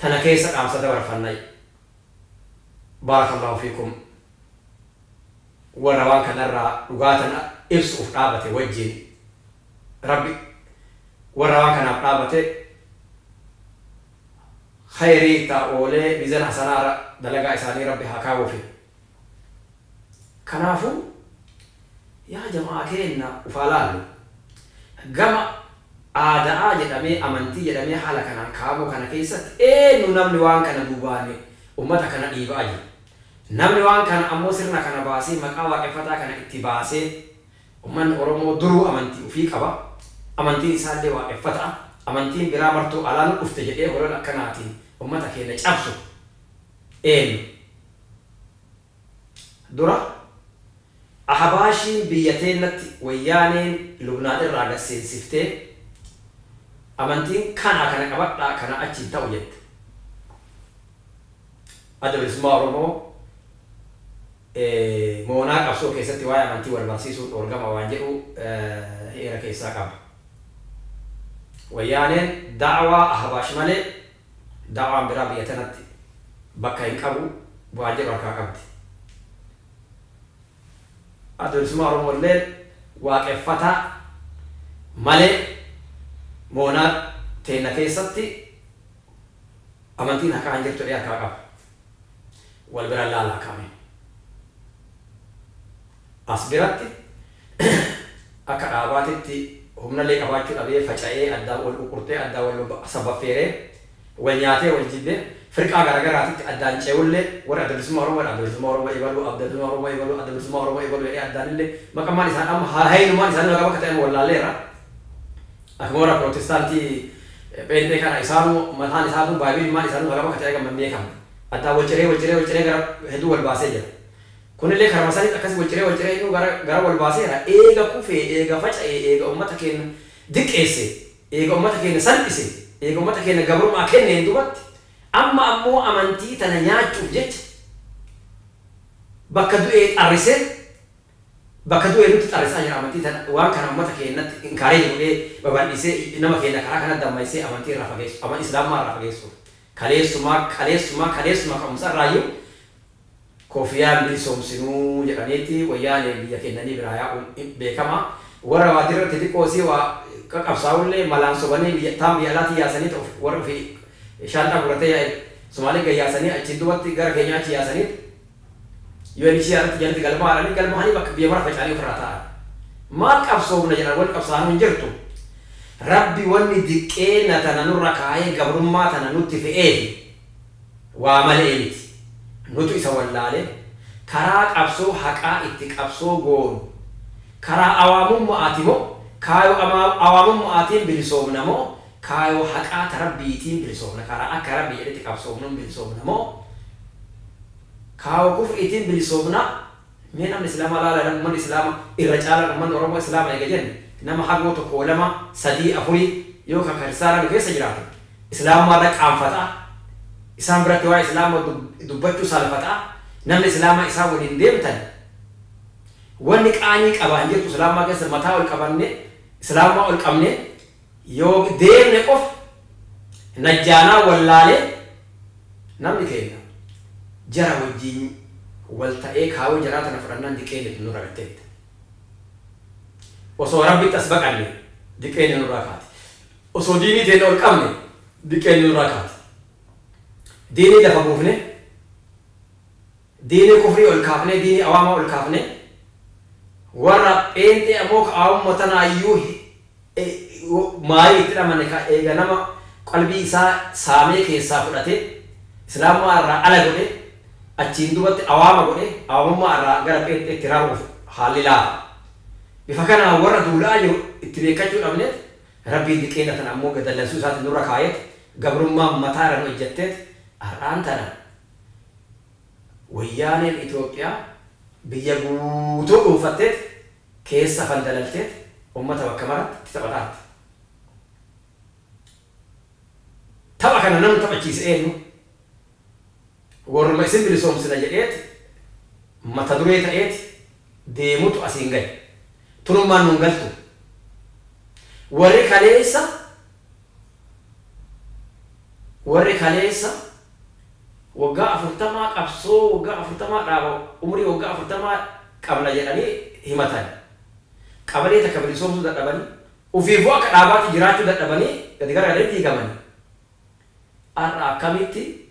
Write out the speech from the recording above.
tana keessa dhaamsa dabarfannay barakallahu fiikum warra waan kana irraa dhugaa tana ibsu'uuf dhaabate wajjiin rabbi warra waan kanaaf dhaabate kheeyrii itti haa oolee mizan hasanaa irra dalagaa isaanii rabbi haa kaawufi kanaafu yaa jama'aa keenna uf haa laallu gama aada'aa jedhamee amantii jedhamee haala kanaan kaa'amuu kana keessatti eennu namni waan kana duubaan ummata kana dhiiba'aa jiru namni waan kana ammoo sirna kana baasee maqaa waaqeffataa kana itti baasee Ummanni Oromoo duruu amantii ufii qaba. Amantiin isaallee Waaqeffata'a. Amantiin biraa martuu alaa nu dhufte jedhee holola akkanaatiin ummata keenna cabsu eennu? Dura Ahabaashiin biyya teennatti Wayyaaneen Lubnaan irraa gad seensiftee amantiin kanaa kana qabadhaa kanaa achi hin ta'u jette. Adda Bilisummaa Oromoo moonaa qabsoo keessatti waa'ee amantii wal barsiisuun dhoorgama waan jedhu heera keessaa qaba. Wayyaaneen da'awaa Ahbaash malee da'awaan biraa biyya tanatti bakka hin qabu waan jedhu harkaa qabdi. Adda Bilisummaa Oromoo illeen Waaqeffataa malee moonaa teenna keessatti Amantiin harkaa hin jirtu ee harkaa qaba wal bira laalaa kaa mee as biratti akka dhaabaatitti humnallee qabaachuu dhabee faca'ee addaan wal quqqurtee addaan wal sabbaffeeree wal nyaatee wal jibbee firqaa gara garaatitti addaan ce'ullee warri adda bilisummaa oromoo jedha adda bilisummaa oromoo ebaluu adda bilisummaa oromoo ebaluu adda bilisummaa oromoo ebaluu jedhee addaanillee maqammaan isaan amma haalayinumaan isaanii nagaa bakka ta'e amma wallaalleerra Akka warra Pirootestaantii pheenxee kana isaanuu mataan isaatuu Baayibili maan isaanuu hagam akka ta'e hagam hin beekamne. Addaan wal ciree wal ciree wal ciree gara hedduu wal baasee jira. Kunillee karuma sanitti akkasi wal ciree wal ciree innuu gara gara wal baaseera. Eega kufee, eega faca'ee, eega ummata keenna diqqeessee, eega ummata keenna salphisee, eega ummata keenna gabrummaa kenneen dubatti amma ammoo amantii tana nyaachuuf jecha bakka du'ee xarrisee, Bakka du'e nutti xarrisaa jira amantii tana waan kana ummata keennatti encourage godhee babaldhisee nama keenna karaa kana dammayssee amantii irraa fageessu aman islaamummaa irraa fageessuuf kaleessumaa kaleessumaa kaleessuma ka'umsa irraayyuu kofiyaan hin bilisoomsinuu jedhaniiti wayyaaneen biyya kennanii biraa yaa'uun beekamaa warra waatii irratti xiqqoo isii waa qaqabsaa'ullee malaan sobanii biyya taan biyya alaatii yaasanii ta warri ofii shaanxaa guratee yaa'e sumaalee gad yaasanii achiin duubatti gara keenyaa achi yaasaniit UNHCR irratti jalatti galmaa'ananii galmaa'anii bakka biyya mara faca'anii ofirraa taa'an. Maal qabsoofna jedhan wanni qabsaa'anu hin jirtu. Rabbi wanni diqqeenna tana nurra kaayee gabrummaa tana nutti fe'eefi waa male'ee miti. Nutu isa wallaalee karaa qabsoo haqaa itti qabsoo goonu karaa awaamumma'aati moo kaayoo amaaw awaamumma'aatiin bilisoomna moo Kaayoo haqaa ta Rabbiitiin bilisoomna, karaa akka Rabbi jedhetti qabsoofnuun bilisoomna moo kaayoo kufriitiin bilisoomna? Mee namni Islaama laala namni ummanni Islaama irra caalaan ummanni Oromoo Islaama eega jenne nama hagoo tokkoo lama sadii afurii yoo ka kiristaanaa nu keessa jiraate Islaamummaa irra qaanfata, isaan biratti waa'ee Islaama dubbachuu salafata, namni Islaama isaan waliin deemtan wanni qaanii qaba hin jirtu Islaamummaa keessa mataa ol qabannee Islaamummaa ol qabnee Yoo deemne qofa Najjaanaa wallaalee namni keenna jara wajjiin wal ta'ee kaayoo jaraa tana fudhannaan diqeenni tun nurra gad teette. Osoo Rabbitti as baqanne diqeenni nurraa kaati. Osoo diinii teenna ol qabne diqeenni nurraa kaati. Diinii lafa buufne. Diinii kufrii ol kaafnee diinii awaamaa ol kaafnee warra pheenxee ammoo ka awamuma tanaayyuu maayii itti dhamane ka eega nama qalbii isaa saamee keessaa fudhatee islaamummaa irraa ala godhee achiin duubatti awaama godhee awamummaa irraa gara pheenxeetti raru'uuf haalli laafa. Bifa kanaan warra duula'aa jiru itti beekkachuu dhabneet Rabbiin diqeena tana ammoo gad dallansuu isaatiin nurra kaayeet gabrummaan mataa irra nu ejjatteet har'aan tana Wayyaaneen Itoophiyaa biyya guutuu dhuunfatteet, keessa fandalalteet ummata bakka maraatti itti taphataa turte. Tapha kana namni taphachiise eenyu? Warruma isin bilisoomsina jedheet mata duree ta'eet deemutu asiin gahe. Tunummaan nu hin galtu. Warri kaleessa Warri kaleessa waggaa afurtamaa qabsoo waggaa afurtamaa dhaaba umrii waggaa afurtamaa qabna jedhanii himatan qabalee takka bilisoomsuu dadhabanii ufiifuu akka dhaabaatti jiraachuu dadhabanii gadi garagalanii diigamanii har'a akkamitti